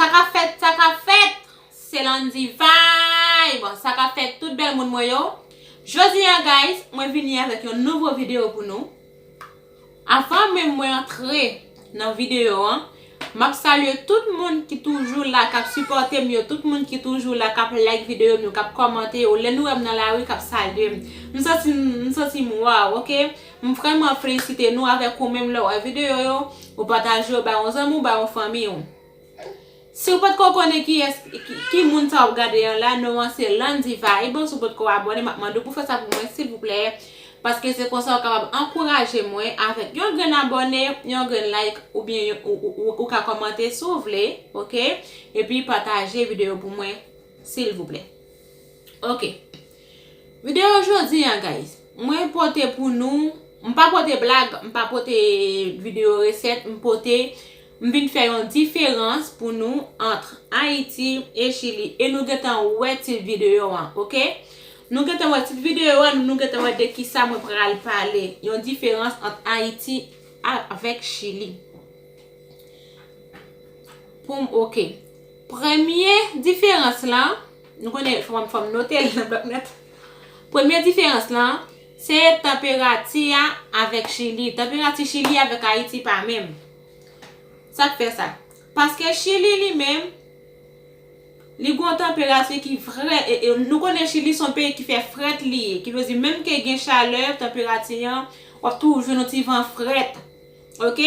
Sa ka fèt sa ka fèt Se Landy vibe Sa ka fèt tout bèl moun mwen yo Jodi an guys mwen vini avèk yon nouvo video pou nou Avan menm mwen antre nan video an Map salye tout moun ki toujou la kap sipòte m yo tout moun ki toujou la kap like video m yo kap kòmante yo lè nou wèm nan lari kap salye m m santi m santi m waw ok M vrèman felisite nou avèk ou menm lèw wè videyo yo ou pataje yo bay yon zanmi ou bay yon fanmi ou siw potko konnen kiyès ki moun sa wap gade an la non an se Landy vibe si w potko abòne map mande w pou fè sa pou mwen silvouplè paske se konsa ou kapab ankouraje mwen avèk yon grenn abòne yon grenn like oubyen ou ka kòmante si w vle ok epi pataje videyo pou mwen silvouplè ok. Video jodi an guys Mwen pote pou nou M pa pote blag M pa pote video reset M pote M vin fè yon diferans pou nou Antr Haiti e chili E nou gentan wè tit video an ok Nou gentan wè tit video an Nou gentan wè de kisa mwen pral pale Yon diferans antr Haiti Avek chili Poum ok Premye diferans lan Nou konnen fòm fòm note l nan blòk nòt. Premye diferans lan, se tanperati a avèk Chili. Tanperati Chili avèk Ayiti pa menm. Sa k fè sa? Paske Chili li menm, li gon tanperati ki vrè, nou konnen Chili son peyi ki fè frèt li ye, ki vle di menm ke gen chalè, tanperati an, wap toujou jwenn yon ti van frèt. Ok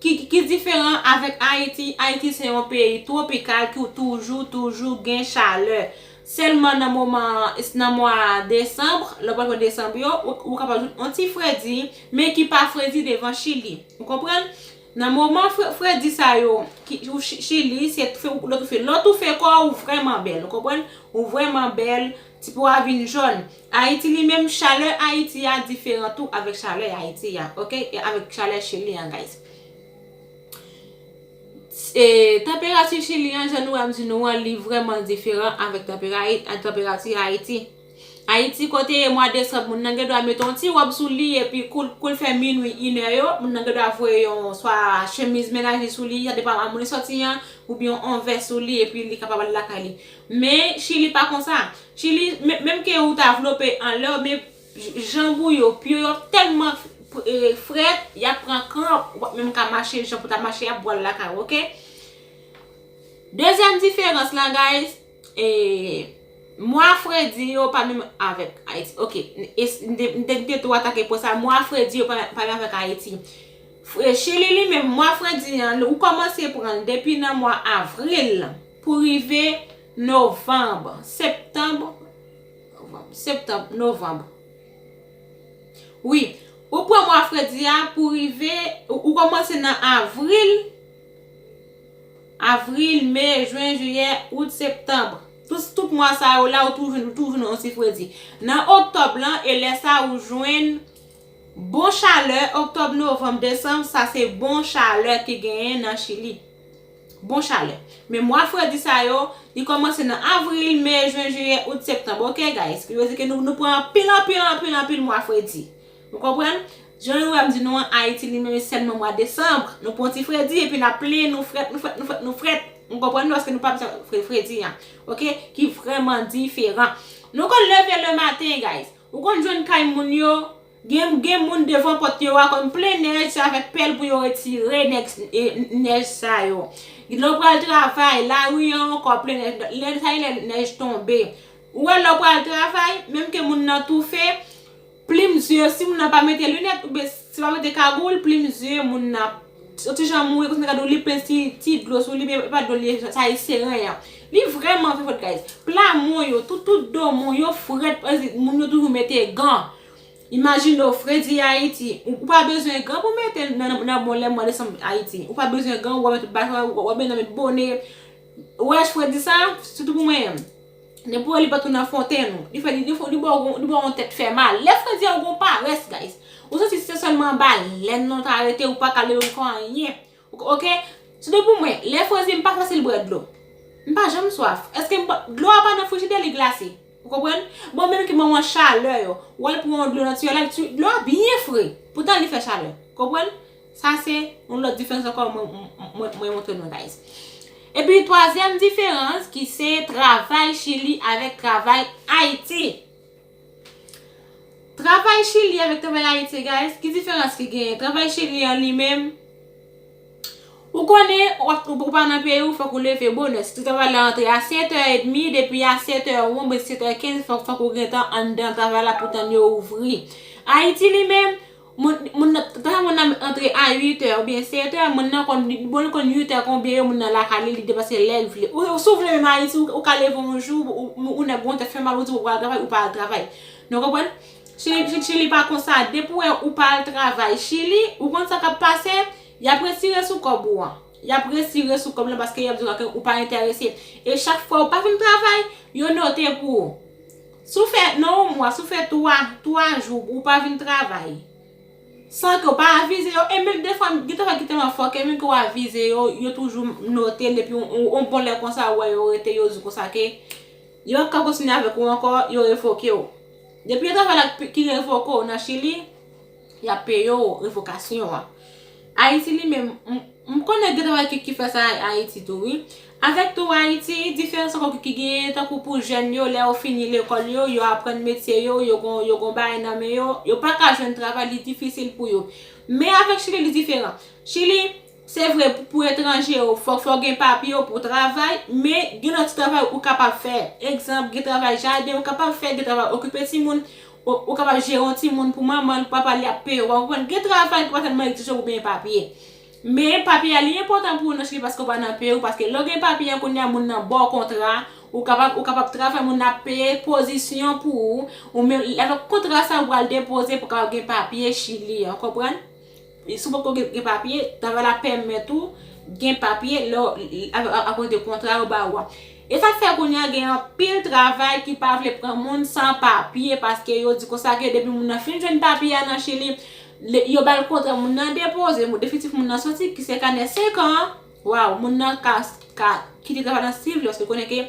ki diferan avek ayiti ayiti se yon peyi tropical ki toujou toujou gen chalè selman nan moman nan mwa decembre lè pral pran decembre yo ou kapab jwenn yon ti fredi men ki pa fredi devan chili ou konprann nan moman fredi sa yo ki ou chili se lè ou toufe kò ou vreman bèl ou konprann ou vreman bèl. Ti po a vin jòn. Ayiti li menm chalè ayiti a diferan tou avèk chalè ayiti a ok e avèk chalè chili an guys e tanperati chili an jan nou wèm di nou an li vrèman diferan avèk tanperati ayiti ayiti kote e mwa desanm moun nan gen dwa mete yon ti wòb sou li epi koul fè minwi inè yo moun nan gen dwa voye yon swa chemiz menaj li sou li sa depan a moun li sòti an oubyen yon vès sou li epi li kapab ale lakay li. Men chili pa konsa. Chili menm ke ou ta vlope anlèw men janb ou yo pye yo ap tèlman frèt yap pran kranp ou pap menm ka mache jan pou ta mache yap bwal lakay ou ok. Dezyèm diferans la guys e mwa fredi yo pa menm avèk ayiti ok m te tou atake pwen sa mwa fredi yo pa menm avèk ayiti chili li menm mwa fredi an ou kòmanse pranl depi nan mwa avril. Pou rive novanb, septanb, novanb, septanb, novanb. Wi, ou pran mwa fredi a pou rive, ou kòmanse nan avril, avril, me, jwen, jiyè, out, septanb. Tout mwa sa yo la ou toujou nan yon ti fredi. Nan oktòb lan, e lè sa ou jwen bon chalè, oktòb, novanb, desanb, sa se bon chalè ki genyen nan Chili. Bon chalè. Men mwa fredi sa yo, li komanse nan avril, me, jwen, jiyè, out, septanb. Ok guys. Ki vle di ke nou nou pran anpil anpil anpil anpil mwa fredi. Nou konprann? Jan nou wèm di nou an Ayiti li menm e sèlman mwa desanb. Nou pran yon ti fredi epi nap plenyen nou frèt nou frèt nou frèt nou frèt. Nou konprann paske nou pa bzwen fre fredi an. Ok ki vreman diferan. Nou konn leve le maten guys. Ou konn jwenn kay moun yo. Gen moun devan pòt yo a konn plen nèj se avèk pèl pou yo retire nèj sa yo. Lè w pral travay, lari an ankò plen nèj. Lè sa gen lè nèj tonbe. Ou wè lè w pral travay, menm ke moun nan toufe, plim zye, si moun nan pa mete linèt oubyen si pa mete kagoul, plim zye moun nan Yon ti jan mouri konsa gade li plen ti dlo sou li men epa dlo li ye sa ye seren an li vreman fè fret guys pla mou yo tout tout do mou yo fret moun yo toujou mete gan imajine ou fredi ayiti ou pa bezwen gan pou mete nan bon lè mwa desanm ayiti ou pa bezwen gan ou wè met tout bagay ou wè nan met bone ou wè fredi sa sitou pou mwen menm. Nan pou wè li pa tounen afwonte nou. Li fè li ba w yon tèt fè mal. Lè fredi a ou gen yon parès guys. Ou santi se sèlman anba lèn nan ou ta rete ou pa ka leve pou fè anyen. Ok. Se te pou mwen. Lè fredi m pa fasil bwè dlo. M pa janm swaf. Eske m bwè. Dlo a pa nan frijidè li glase. Ou konprann? Bon menm ki ban w an chalè yo. Ou al pran yon dlo nan tiyò la. Dlo a byen fre. Poutan li fè chalè. Konprann? Sa se yon lòt diferans ankò mwen montre nou guys. Epi twazyèm diferans ki se travay chili avèk travay ayiti. Travay chili avèk travay ayiti guys ki diferans ki genyen. Travay chili an li menm ou konnen ou pa nan peyi ou fòk ou leve bonè. Si travay la antre a 7 è edmi depi a 7 è ou oubyen 7 è 15 fòk ou gentan anndan travay la pou tann yo ouvri. Ayiti li menm Moun nan Tanzan moun nan antre a 8 è oubyen 7 è moun nan konn li bon li konn 8 è konbyen yo moun nan lakay li li depanse lèl vle ou si w vle menm ayiti ou ka leve yon jou ou nèg gon tèt fè mal ou di ou pral al travay ou pa al travay nou konprann chili pa konsa depi w wè ou pa al travay chili ou konn sa kap pase yap retire sou kòb ou an yap retire sou kòb lan paske yap di w ou pa entèrese e chak fwa ou pa vin travay yo note pou ou Si w fè nan yon mwa, si w fè 3, 3 jou ou pa vin travay, san ke w pa avize yo, e menm defwa gen travay ki tèlman fò ke menm ke w avize yo, yo toujou note l epi yon bon lè konsa ou wè yo rete yo di konsa ke yo pap ka kontinye avèk ou ankò, yo revoke w. Depi yon travay la ki revoke w nan Chili. Yap peye w revokasyon an. Ayiti li menm, m konnen gen travay ki fè sa Ayiti tou wi. Avèk tou Ayiti, diferans ankò ki genyen tankou pou jèn yo lè yo fini lekòl yo, yo aprann metye yo, yo gon bagay nan men yo, yo pa ka jwenn travay li difisil pou yo. Men avèk Chili li diferan. Chili. Se vre pou etranje yo fòk ou gen papye yo pou w travay, men gen lòt ti travay ou kapab fè. Egzanp, gen travay jaden ou kapab fè, gen travay okipe timoun, ou kapab jere yon timoun pou manman l, pou papa l y ap peye w. Ou konprann? Gen travay ki pa tèlman egzije pou w gen papye. Men, papye a li enpòtan pou ou nan chili paske ou pa nan peyi w, paske lè w gen papye an kounye a moun nan ba w kontra, ou kapab ou kapab travay moun nan ap peye pozisyon pou ou, ou menm avèk kontra sa ou pral depoze pou w kapab gen papye chili an, ou konprann? Si w poko gen papye, travay la pèmèt ou gen papye akoz de kontra yo ba ou a. E sa k fè kounye a gen anpil travay ki pa vle pran moun san papye paske yo di konsa ke depi moun nan fin jwenn papye a nan Chili, yo ba l kontra moun nan depoze, definitif moun nan soti ki se kanè 5 an, waww, moun nan ka kite travay la si l vle paske l konnen ke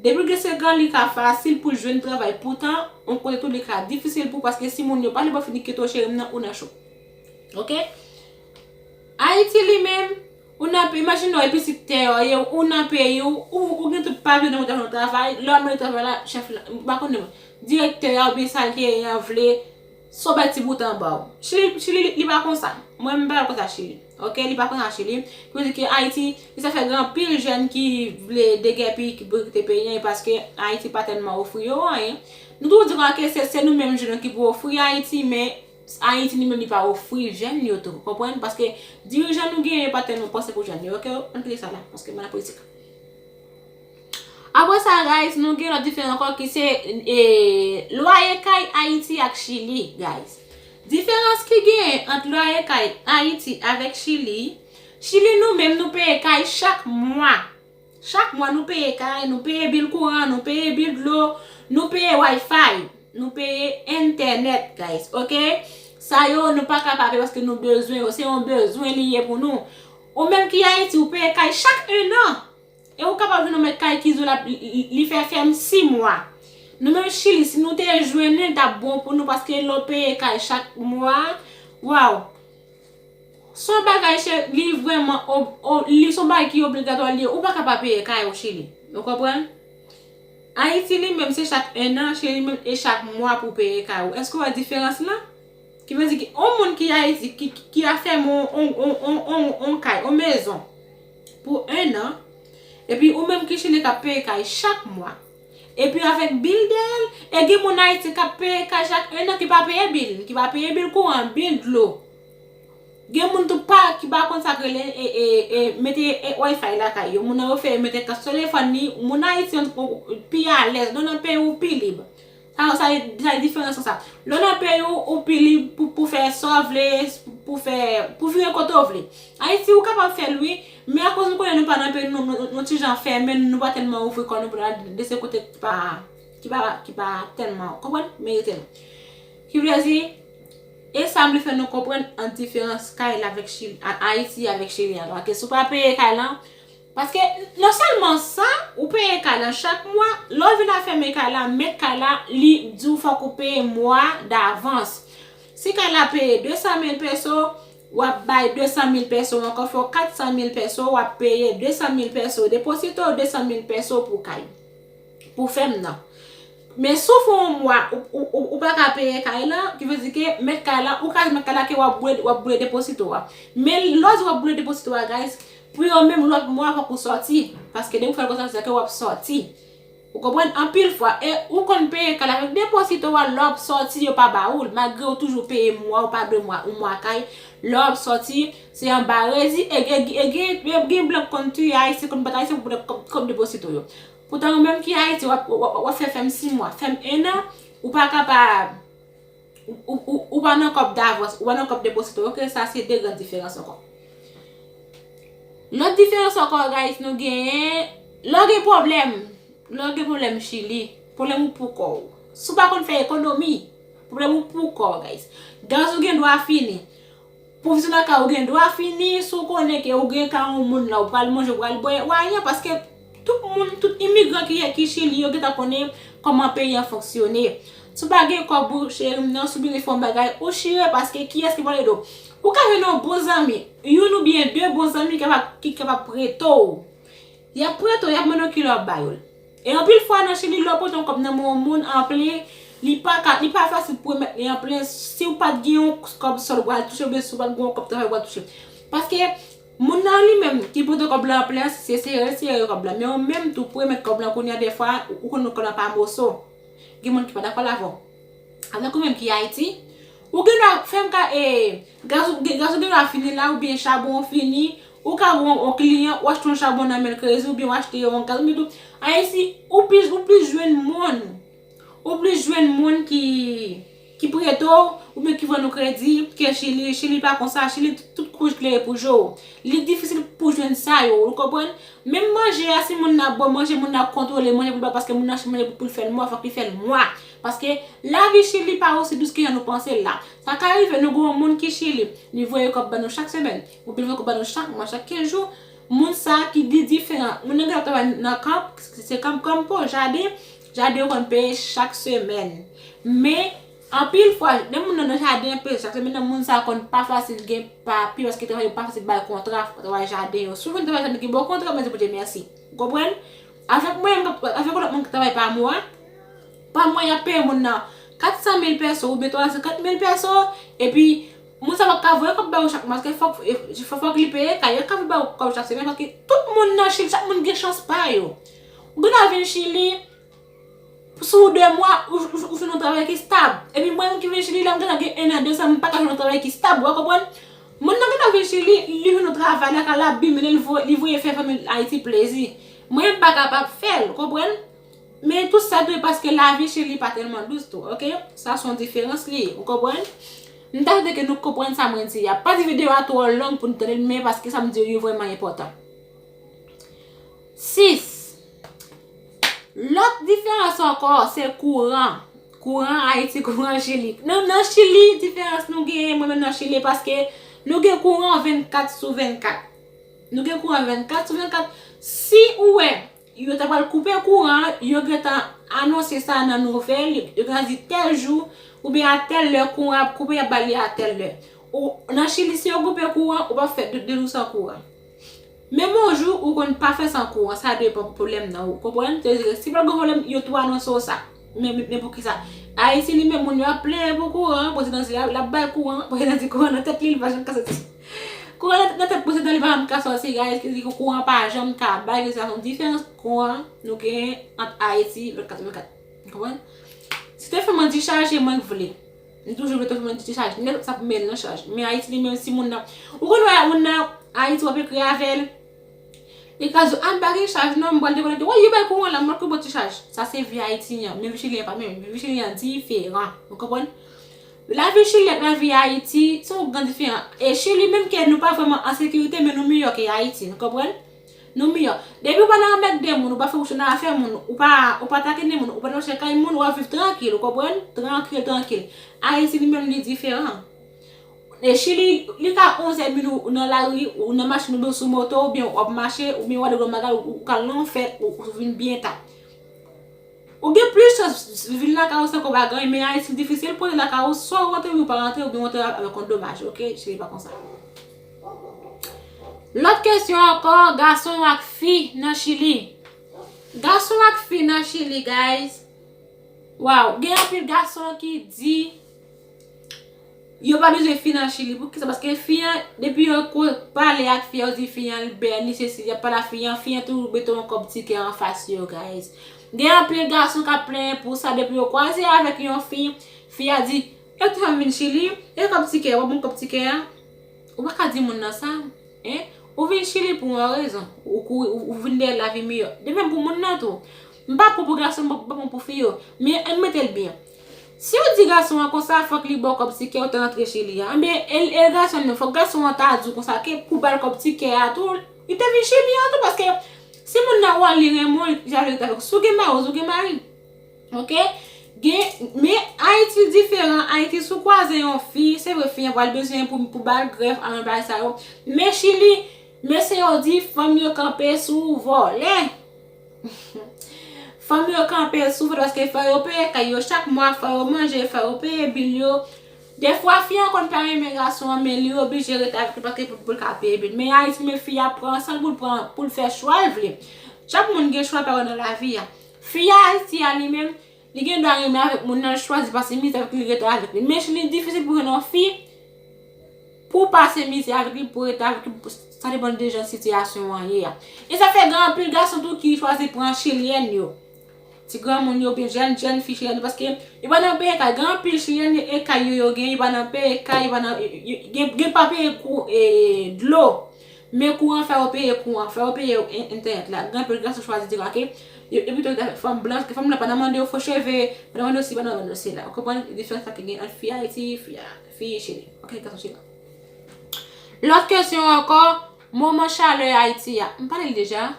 Depi w gen 5 an li ka fasil pou jwenn travay poutan yon kote tou li ka difisil pou paske si moun yo pale bò fini kite w cheri m nan ou nan cho ok Ayiti li menm ou nan peyi imajine w e pitit tè yo ye ou nan peyi w ou gen tout papye nan men w ta jwenn yon travay lè w al mande travay la chèf la m pa konnen direktè a oubyen sa l te ye an vle Son bèl ti bouton anbaw. Chili chili li pa konsa mwen menm pa wèl konsa chili ok li pa konsa chili pou nou di ke ayiti li sa fè gen anpil jèn ki vle degèpi ki vle kite peyi an e paske ayiti pa tèlman ofri yo anyen nou toujou di konsa ke se nou menm jèn yo ki pou ofri ayiti men ayiti li menm li pa ofri jèn yo tou konprann paske dirijan nou genyen pa tèlman panse pou jèn yo ok ann kite sa la paske mwen nan politik. Apre sa guys nou gen lòt diferan ankò ki se lwaye kay Ayiti ak Chili guys. Diferans ki genyen ant lwaye kay Ayiti avèk Chili, Chili nou menm nou peye kay chak mwa. Chak mwa nou peye kay, nou peye bil kouran, nou peye bil dlo, nou peye wifi, nou peye entènèt guys ok. Sa yo nou pa ka pa peye paske nou bezwen yo, se yon bezwen li ye pou nou. Ou menm ki Ayiti ou peye kay chak 1 an. E ou kapab jwenn yon mèt kay ki di w lap li fè fèm 6 mwa. Nou menm chili si nou te jwenn li li tap bon pou nou paske lè w peye kay chak mwa waw se yon bagay cheri li vrèman li se yon bagay ki obligatwa li ye ou paka pa peye kay ou chili ou konprann. Ayiti li menm se chak 1 an chili li menm e chak mwa pou peye kay ou èske w wè diferans lan ki vle di ki yon moun ki ayiti ki a fèmen yon yon kay yon mezon. Pou 1 an, epi ou menm ki chile kap peye kay chak mwa. Epi avèk bil dèyèl, e gen moun Ayiti kap peye kay chak 1 an ki pa peye bil, ki pa peye bil kouran, bil dlo. Gen moun tou pa ki pa konn sak rele e mete wifi lakay yo, moun nan refere mete kas telefòn li, moun Ayiti pi alèz, non nan peyi ou pi lib. Sa yo sa yo sa yo diferan san sa. Lè w nan peyi w ou pi lib pou pou fè sa w vle, pou fè pou vire kote w vle. Ayiti ou kapab fè l wi, men akoz nou konnen nou pa nan peyi nou nou ti jan fèmen nou pa tèlman ouvri kò nou pou n al dese kote ki pa ki pa ki pa tèlman konprann merite nou. Ki vle di e sa m vle fè nou konprann ant diferans kay la avèk chili Ayiti avèk chili a. Paske si w pa peye kay lan Paske non sèlman sa, ou peye kay lan chak mwa, lè w vin a fèmen kay la, mèt kay la, li di w fòk ou peye mwa davans. Si kay la peye 200 mil pèso, w ap bay 200 mil pèso ankò, fè w 400 mil pèso, w ap peye 200 mil pèso deposito, 200 mil pèso pou kay, pou fèmen nan. Men si w fè yon mwa, ou pa ka peye kay lan, ki vle di ke mèt kay la, ou ka di mèt kay la ke w ap boule deposito a. Men lè w di w ap boule deposito a guys, Pou yo menm lòt mwa fòk ou sòti paske depi ou fèl konsa se ke wap sòti ou konprann anpil fwa e ou konn peye kay la men deposito wa lè wap sòti yo pa ba oul magre ou toujou peye mwa ou pa dwe mwa ou mwa kay lè wap sòti se anba rezi e gen e gen gen blan k konn tuye ayisyen konn bat ayisyen pou blan kòb kòb deposito yo poutan ou menm ki ayiti wap wap fè fèm 6 mwa fèm 1 an ou paka pa. Ou pa nan kòb davans, ou pa nan kòb deposito ok, sa se 2 gran diferans ankò. Lòt diferans ankò guys nou genyen, lè w gen pwoblèm, lè w gen pwoblèm chili, pwoblèm ou pou kò w. Si w pa konn fè ekonomi, pwoblèm ou pou kò w guys. Gaz ou gen dwa fini. Pou vizit lakay ou gen dwa fini si w konnen ke ou gen ka yon moun la ou pral manje ou pral bwè ou anyen paske tout moun tout imigran ki chili yo gentan konnen kòman peyi an fonksyone si w pa gen kòb ou cheri m nan si w bezwen fè yon bagay ou chire paske kiyès ki pral ede w ou ka jwenn yon bon zanmi youn oubyen de bon zanmi ki kapab prete w y ap prete w y ap mande w kilè w ap ba yo l. E anpil fwa nan chili lè w pote yon kòb nan men yon moun anplen li pa ka li pa fasil pou remèt li anplen si w pat gen yon kòb sòl ou pral touche oubyen si w pat gen yon kòb travay ou pral touche paske moun nan li menm ki pote kòb la anplen an se sere sere kòb la men ou menm tou pou remèt kòb la kounye a dèfwa ou konnen kòb la pa moso gen moun ki pa dakò l avè w. Avèk ou menm ki Ayiti, ou gen dwa fè m ka e, gaz ou gen dwa gen fini la oubyen chabon ou fini, ou ka wè yon kliyan ou achte yon chabon nan men l krezi oubyen ou achte yon gaz oubyen tou, Ayiti ou plis ou plis jwenn moun, ou plis jwenn moun ki ki prete w oubyen ki vann ou kredi ke Chili, Chili pa konsa, Chili tout kouj klere pou je w. Li difisil pou jwenn sa yo, ou konprann? Menm manje a si moun nan ap bo manje, moun nan ap kontwole manje pou l pa paske moun nan achte manje pou l fè l mwa, fòk li fè l mwa. Paske, lavi Chili pa osi dous ke jan nou panse l la. Sa ka rive nou gen yon moun ki Chili, li voye kòb ban nou chak semèn, oubyen li voye kòb ban nou chak mwa, chak 15 jou, moun sa a ki li diferan. Moun nan gen dwa ap travay nan kanp, se kanp kanp po, jaden, jaden yo konn peye chak semèn. Men, anpil fwa, lè moun nan nan jaden ap peye chak semèn nan, moun sa a konn pa fasil gen papye, paske travay yo pa fasil bay kontra travay jaden yo. Si w vin travay jaden ki ba w kontra, mwen di Bondye mèsi. Ou konprann? Avèk mwen menm, avèk yon lòt moun ki travay pa mwa, pa mwa y ap peye moun nan 400 mil pèso oubyen 350 mil pèso, epi moun sa pa p ka voye kòb ba yo chak mwa paske fòk li peye kay, yo pa ka voye ba yo kòb chak semèn paske tout moun nan Chili, chak moun gen chans pa yo. Ou gen dwa vin Chili. Sou 2 mwa, ou jwenn yon travay ki stab. Epi mwen menm ki vin Chili la, m gentan gen 1 an, 2 zan m pa ka jwenn yon travay ki stab, w'a konprann? Moun nan gentan vin Chili, li jwenn yon travay lakay la, bim, men li voye fè fanmi l Ayiti plezi. Mwen menm m pa kapab fè l, konprann? Men tout sa dwe paske lavi Chili pa tèlman dous tou, oke? Sa s on diferans li ye, ou konprann? M ta swete ke nou konprann sa mwen di a. Pa di videyo a twò long pou nou tande l men paske sa m di yo yo vrèman enpòtan. 6. Lòt diferans ankò se kouran. Kouran Ayiti, kouran Chili. Nou nan Chili, diferans nou genyen mwen menm nan Chili paske nou gen kouran 24 sou 24. Nou gen kouran 24 sou 24. Si ou wè, yo ta pral koupe kouran, yo gen tan anonse sa nan nouvel, yo gen tan di tèl jou, ou byen a tèl lè kouran ap koupe, y ap ba li a tèl lè. Nan Chili, si yo koupe kouran, ou pa fè 2 jou san kouran. Men bon jou ou konn pa fè san kouran sa depan pwoblèm nan ou konprann se dire si pat gen pwoblèm yo tou anonse w sa men poukisa ayiti li menm moun yo ap plenyen pou kouran prezidan di lap bay kouran prezidan di kouran nan tèt li li pa janm ka soti kouran nan tèt prezidan li pa janm ka soti guys ki di kouran pa janm ka bay se yon diferans kouran nou genyen ant ayiti 24 sou 24 konprann si te fè mwen di chaje mwen k vle. Nou toujou vle transfòme ti chaj. Nèg sa ap menn nan chaj. Men Ayiti li menm si moun nan. Ou konn wè moun nan Ayiti w ap ekri avè l. Li ka di w a m pa gen chaj non m pral dekonnen di w yo bay kouran la m ap tou ba w ti chaj. Sa se vi Ayiti an. Men vi Chili an pa menm. Vi Chili an diferan. Ou konprann? Lavi Chili ak lavi Ayiti se yon gran diferan. E Chili menm ke nou pa vrèman an sekirite men nou miyò ke Ayiti. Nou konprann? Nou miyò. Depi ou pa nan anmèkde moun, ou pa fè bouch ou nan afè moun, ou pa ou pa takine moun, ou pa nan chè kay moun, w'ap viv trankil, ou konprann? Trankil, trankil. Ayiti li menm li diferan. E Chili, li ka onzè midi ou nan lari, ou nan machin oubyen ou sou moto oubyen w'ap mache, oubyen w'ale grann bagay ou kal nan yon fèt ou vin byen ta. Ou gen plis chans vin lakay ou san kòb ak anyen men Ayiti li difisil pou w antre lakay ou swa ou antre oubyen ou pa antre oubyen ou antre avèk yon domaj ok cheri pa konsa. Lòt kesyon ankò gason ak fi nan chili Gason ak fi nan chili guys Waw gen anpil gason ki di Yo pa bezwen fi nan chili pou kisa paske fi an depi yo ko pale ak fi an yo di fi an li bèl li sesi yap pale ak fi an fi an tou mete yon kòb ti kè anfas yo guys gen anpil gason kap plenyen pou sa depi yo kwaze avèk yon fi fi a di e kisa m vin chili e kòb ti kè wap banm kòb ti kè a ou pa ka di moun nan sa hein ou vin chili pou yon rezon ou kouri ou vin dèyè lavi miyò de menm pou moun nan tou m pa pou pou gason m pa pou pou fi yo men ann metel byen. Siw di gason an konsa fòk li baw kòb tikè ou te rantre chez li a enben el gason menm fòk gason an ta diw konsa ke pou bal kòb tikè a tou li te vin chez li a tou paske si moun nan wè li renmen w li te jaloux li ta fè konsa si w gen mari si w gen mari ok gen men ayiti diferan ayiti si w kwaze yon fi se vre fi an pral bezwen pou bal grèf al nan bagay sa yo men chili mesye yo di fanm yo kanpe sou vòlè Fanm yo kanpe soufri paske fò yo peye kay yo chak mwa, fò yo manje, fò yo peye bil yo. Defwa fi an konn pa renmen gason an men li oblije rete avèk li paske pou l ka peye bil. Men Ayiti men fi a pran san l pou l pran pou l fè chwa l vle. Chak moun gen chwa pa yo nan lavi a. Fi Ayiti a li menm. Li gen dwa renmen avèk moun nan l chwazi pase mizè avèk li rete avèk li. Men si li difisil pou jwenn yon fi pou pase mizè avèk li, pou rete avèk li, sa depann de jan sitiyasyon an ye a. E sa fè gen anpil gason tou ki chwazi pran chilyèn yo. Ti granmoun yo oubyen jèn jèn fi chilyèn yo paske yo pa nan peye kay. Gen anpil chilyèn e kay yo yo gen yo pa nan peye kay, yo pa nan gen pa peye kou e dlo. Men kouran fè yo peye kouran, fè yo peye entènèt la. Gen anpil gason ki chwazi debake, yo evite rete avèk fanm blanch, ke fanm blan pa nan mande yo fo cheve, pa nan mande yo si, pa nan mande yo sela. Ou konprann diferans la ki gen ant fi Ayiti, fi Chili. Ok, gason Chili. Lòt kesyon ankò, moman chalè Ayiti a. M pale l deja?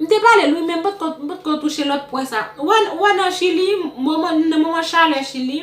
M te pale l wi, men m potko touche lòt pwen sa. Ou wè nan Chili, nan moman chalè Chili.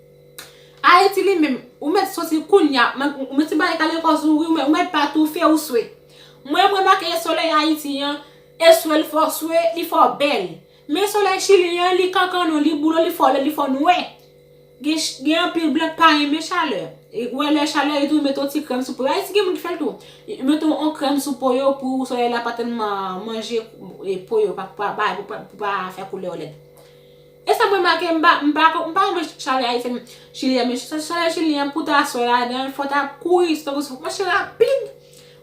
Ayiti li menm, ou mèt soti kounya, ou mèt simaye kale kò sou ou wi, ou mèt pa toufe ou swe. Mwen m remake e solèy Ayiti an, e swe l fò swe, li fò bèl. Men solèy Chili an, li kankanon, li boule, li fò lèd, li fò nwè. Gen anpil blan k pa renmen chalè. Ou wè lè chalè yo tou met yon ti krèm sou po yo. Ayiti gen moun ki fè l tou. Yo met yon krèm sou po yo pou solèy la pa tèlman manje po yo, pou pa fè koulè yo lèd. E sam remake mpa mpa mpa renmen chalè ayisyen chili an men chalè chili an pou ta swe ladanl fò ta kouri se tankou fòk mache rapid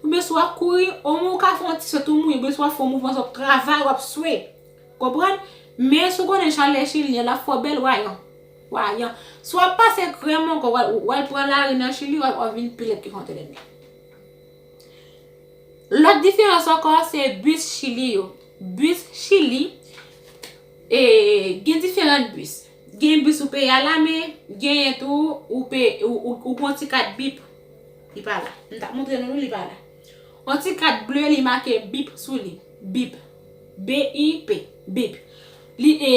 oubyen si wap kouri omenw ka fon ti swe tou mouye oubyen si wap fon mouvman sa wap travay wap swe konprann men si w konnen chalè chili an lap fè w bèl wayan wayan si wap pase krèm ankò wal pran lari nan chili wap vin pi lèd ke fon tèlè men lòt diferans ankò se bus chili yo bus chili E gen diferant bus. Gen bus ou peye a la men, genyen tou ou pe ou gen yon ti kat bip. Li pa la. M tap montre nou li, li pa la. Yon ti kat ble li make bip sou li. Bip. B-i-p. Bip. Li e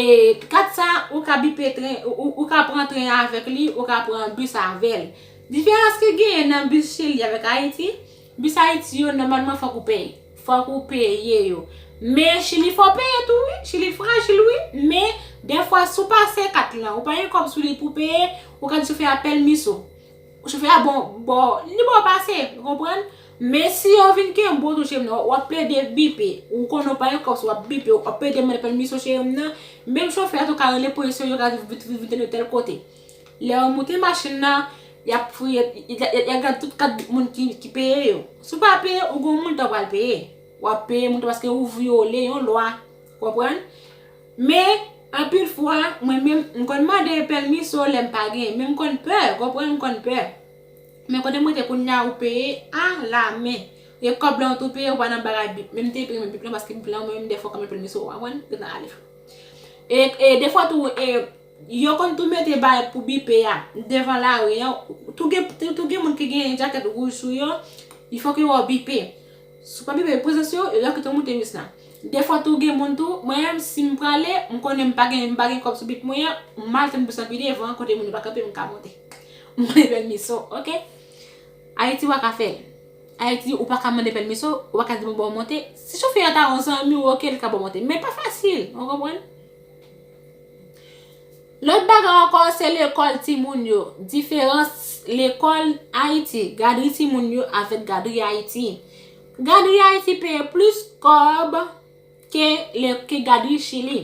kat sa ou ka bipe tren, ou ka pran tren avèk li, ou ka pran bus avèl. Diferans ki genyen nan bus Chili avèk Ayiti, Bus Haiti yo normalman fok ou peye. Fok ou peye yo. Men chili fow peye tou wi. Chili frajil wi. Men defwa si w pase kat lan ou pa gen kob sou li pou peye, ou ka di chofè a pelmis ou. Chofè a bon bo, li bo pase. Ou konprann? Men si yo vin kenbe w tou cheri m nan, wap plede bipe. Ou konnen ou pa gen kob sou wap bipe, wap plede mande pelmis ou cheri m nan. Menm chofè a tou ka rele polis yo, yo ka vin tande w tel kote. Lè yo moute machin nan, y ap fouye, y ap gad tout kat moun ki peye yo. Si w pa peye, ou gen moulta w pral peye. W ap peye moulta paske ou vyole yon lwa. Konprann? Men, anpil fwa, mwen menm, m konn mande pèmiso lè m pa gen. Men m konn pè, konprann, m konn pè. Men kote mwen te kounye a ou peye a la men. E kòb lan ou tou peye, ou pa nan bagay bip. Men m te peye men bip lan paske bip lan mwen menm dèfwa kòm yon pèmiso, w konprann? Yo nan ale. E dèfwa tou, e. Yo konn tou mete bay pou bipe a devan lari an, tou gen tou gen moun ki gen jakèt wouj sou yo, li fòk yo wè w bipe. Si w pa bipe prezans yo, yo ta kite w moute bis la. Defwa tou gen moun tou, mwen menm si m prale, m konnen m pa gen m pa gen kòb sou bip mwen an, m al tann bis lan pi devan kote moun yo pa kanpe m ka monte. M konnen pèmiso, ok. Ayiti w pa ka fè l. Ayiti ou pa ka mande pèmiso, ou pa ka di moun ba w monte. Si chofè a ta yon zanmi w ok, li ka ba w monte, men pa fasil, ou konprann? Lòt bagay ankò se lekòl timoun yo. Diferans lekòl Ayiti, gadri timoun yo avèk gadri Ayiti. Gadri Ayiti peye plis kòb ke gadri Chili.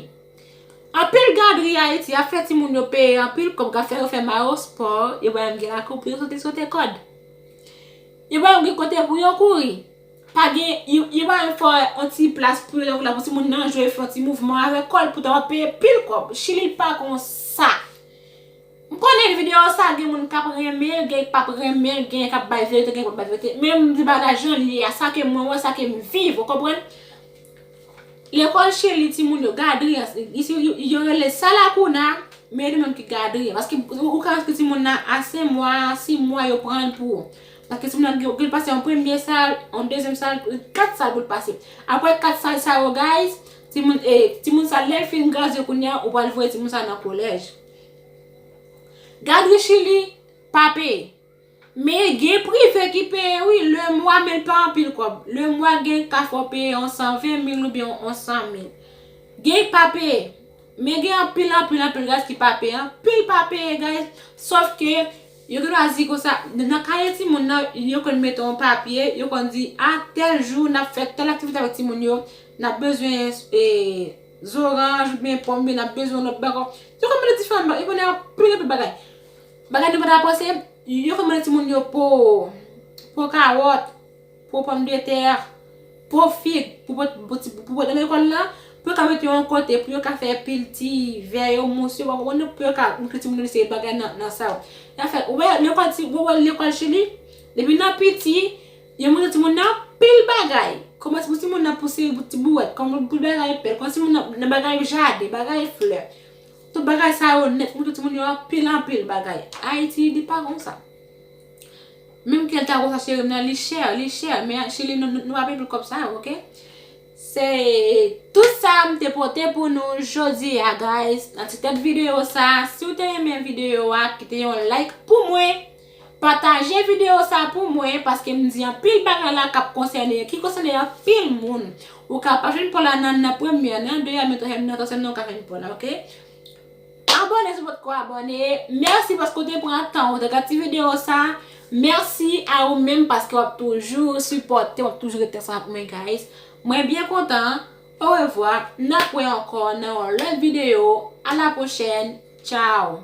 Anpil gadri Ayiti ap fè timoun yo peye anpil kòb ka fè yo fè mayospò, yo bay yon gen lakou pou yo sote sote kòd. Yo bay yon gen kote pou yo kouri. Pa gen, yo pa menm fè yon ti plas pou yo tankou la pou timoun nan jwe, fè yon ti mouvman avèk kò l, poutan w ap peye pil kòb. Chili l pa kon sa. M konnen videyo sa gen moun k ap renmen l, gen k p ap renmen l, gen k ap bay verite, gen k p ap bay verite. Men m di bagay la jan l ye a, sa ke mwen wè, sa ke m viv, ou konprann? Lekòl Chili timoun yo, gadri an, isi yo rele sa la kouna, men yo menm ki gadri an. Paske ou ka enskri timoun nan a 5 mwa, 6 mwa yo pran l pou ou. Paske timoun nan gen l pase yon premye sal, yon dezyèm sal, 4 sal pou l pase. Aprè 4 sal sa yo guys, timoun e, timoun sa lè l fin gradye kounya ou pral voye timoun sa nan kolèj. Gadri chili pa peye. Men gen prive ki peye wi le mwa men l pa anpil kòb. Le mwa gen ka fè w peye yon 120 mil oubyen yon 100 mil. Gen ki pa peye. Men gen anpil anpil anpil guys ki pa peye. Anpil pa peye guys. Sof ke Yo gen lwazi konsa, nan kaye timoun nan, yo konn mete yon papye, yo konn di, a tèl jou, n ap fè tèl aktivite avèk timoun yo, n ap bezwen zoranj oubyen pòm oubyen n ap bezwen yon lòt bag. Yo konn mete diferan bagay, yo konn mete anpil anpil bagay. Bagay nou pa ta panse, yo konn mete timoun yo po, po kawòt. Po pòmdetè, po fig, pou pote nan lekòl la, pou yo ka mete yo yon kote, pou yo ka fè pil ti vè yo, mous yo, pou yo ka montre timoun yo li se yon bagay nan sa yo. Y ap fè, ou wè lekòl ti, ou wè lekòl chili, depi nan piti, yo montre timoun nan pil bagay. Kòman pou timoun nan pou se ti bouwèt, kòman pou bagay pèl, kòman timoun nan nan bagay jaden, bagay flè. Tout bagay sa yo nèt, montre timoun yo anpil anpil bagay. Ayiti li pa konsa. Menm kel ta konsa cherim nan li chè li chè men chili nou nou pa peye pou kòb sa yo ok. Se tout sa m te pote pou nou jodi a guys nan ti tèt video sa si w te renmen video a kite yon like pou mwen pataje video sa pou mwen paske m di anpil bagay la kap konsène ki konsène anpil moun ou ka pa jwenn pò la nan premyè nan dezyèm nan twazyèm nan nan twazyèm nan ou ka jwenn pò la ok. Abòne si w potko abòne. Mèsi paske w te pran tan w te gad ti video sa. Mèsi a ou menm paske w ap toujou sipòte m, w ap toujou ret ansanm ak mwen guys. Mwen byen kontan. Orevwa. N ap wè ankò nan yon lòt video. A la pwochèn. Tchao.